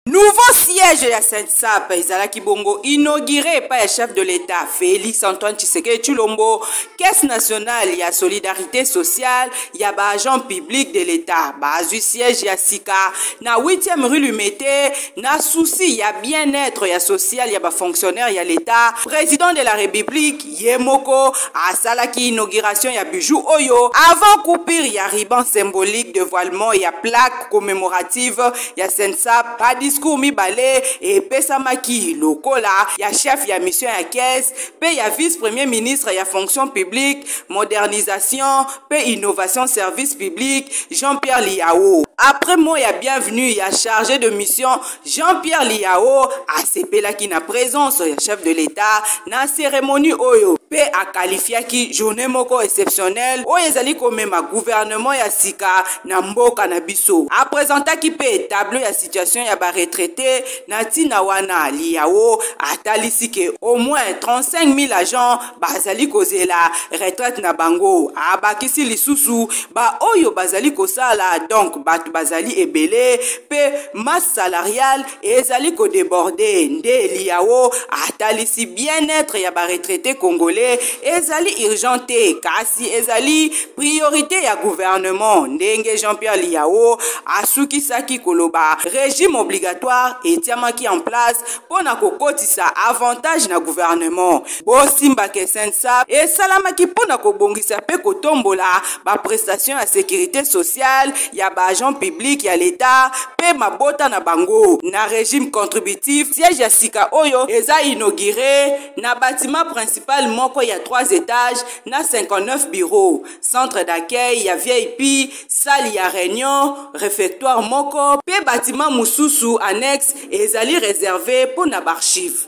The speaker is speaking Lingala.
Nouveau siège ya Sensap ezalaki bongo inauguré epai ya chef de l'État Félix Antoine Tshisekedi Tshilombo, Caisse nationale ya solidarité sociale ya ba agents publics de l'État bazwi siège ya sika na 8e rue Limete na souci ya bien-être ya social ya ba fonctionnaires ya l'État, président de la République ye moko asalaki inauguration ya bijou oyo avant coupure ya riban symbolique devoilement ya plaque commémorative ya sensa ba discours mibale epesamaki lokola ya chef ya mission ya caisse mpe ya vice premier ministre ya fonction publique modernisation mpe innovation service public jean-pierre liao après mot ya bienvenue ya chargé de mission Jean-Pierre Liao asepelaki na presence ya chef de l'État na cérémonie oyo mpe akalifiaki journée moko exceptionnelle oyo ezali komema gouvernement ya sika na mboka na biso apresentaki mpe tableau ya situation ya baretraite na ntina wana Liao atalisi ke au moins 35 000 agents bazali kozela retraite na bango abakisi lisusu baoyo bazali kosala donk bato bazali ebele mpe masse salariale ezali kodeborde nde liao atalisi bien-être ya baretraite congolais ezali urgent te kasi ezali priorité ya gouvernement ndenge jean-pierre liao asukisaki koloba régime obligatoire etiamaki en place mpo na kokotisa avantage na gouvernement Bosimba ke SNSAP esalamaki mpo na kobongisa mpe kotombola baprestation ya securite sociale ya baagent public ya leta mpe mabota na bango na regime contributif. Siège ya sika oyo eza inaugure na bâtiment principal moko ya 3 étages na 59 bureaux, centre d'accueil ya VIP, salle ya réunion, réfectoire moko mpe bâtiment mosusu annexe ezali réserve mpo na baarchive.